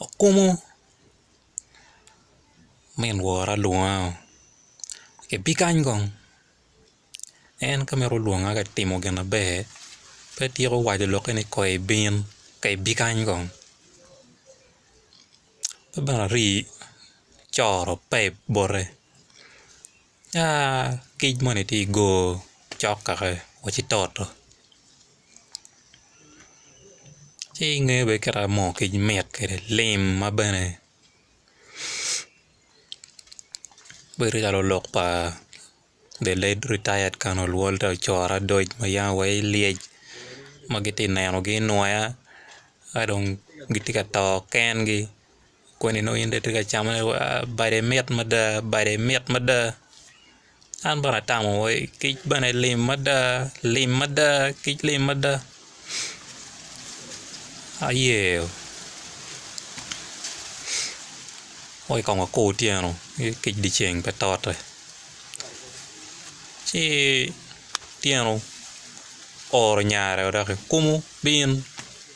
Okumu min wora lwonga oo ibi kany kong en ka mito lwonga ka timo gin maber pe tyeko waco lokke ni kong ibin ka ibi kany kong ki bene ari coro pep bote. kic moni tye i goo cok kaka wa ci toto ci inge bene kita moo kic mit kede lim ma bene bedo calo lok pa the late retired colonel Walter Core Adoc ma yam wa ilyec ma giti nenogi inwoya ka dong giti ka to kengi koni nongo in dong itye ka camone wa bade mit mada bade mit mada an bene atamo wa kic bene lim mada lim mada kic lim mada ayeo weko kong wakur otyeno ki kic dyeceng pe tote ci otyeno oro nyare wa dok-ki kumo bin.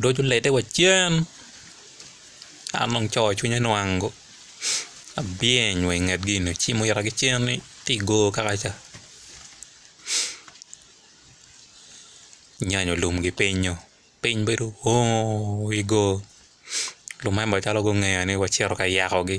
Doc olete wa cen, an dong coo cwinye nwang go abyeny wa inget gi eni ocimo ita ki cen ni tye igor kaka ca nyanyo lum gi pinyo piny bedo ooo igor lumemba calo gungeya ni wacito ka yako gi.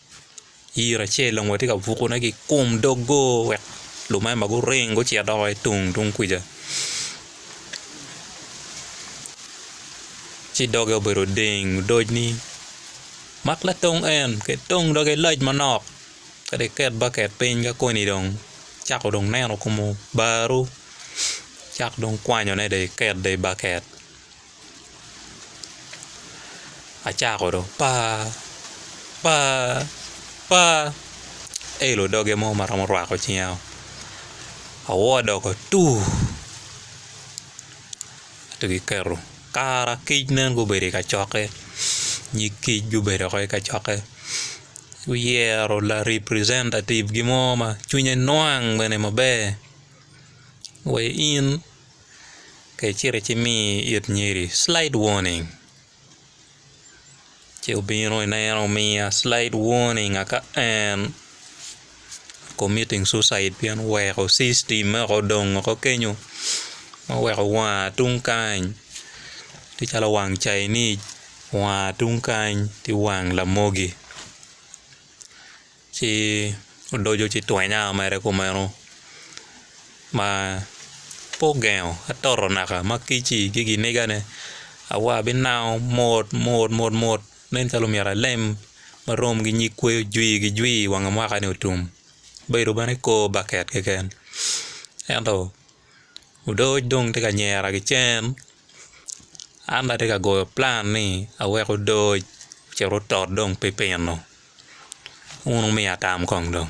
Yiro acel dong watye ka buko ne ki kom dogo wek lumema guring gucit doko ki tung tung kuca ci doge obedo deng odoc ni mak latong en ki tong doge lac manok ka dong iket baket piny ka koni dong cako dong neno kom obaru cak dong kwanyone dong iket dong i baket. acako dong paa paa paa elo doge mo ma romo rwako cinga o awor odoko atuu ento kiketo kara kic nen gubedo i kacokke nyig kic gubedo woko i kacokke guyero la representative gi mo ma cwinye nwang bene maber wa in Kare cito ci mi it nyeri slide warning ci obino ineno omiya slide warning aka en committing suicide pien oweko system me woko odong woko kenyo ma oweko wanga tung kany tye calo wang Chinese wanga tung kany tye wang lamogi. Ci odoco ci twenya mere kumeno ma pe ogengo atoto naka ma kic-ci ki ginigane awa abinango mot mot mot mot nen calo myero alem ma rom ki nyig kweyo jwi ki jwi wanga mwaka-ni otum obedo bene kor baket keken ento odoc dong tye ka nyera ki cen an bene atye ka goyo pulan ni awek odoc ocit otot dong pi pino. Wun wumiya tam kong dong.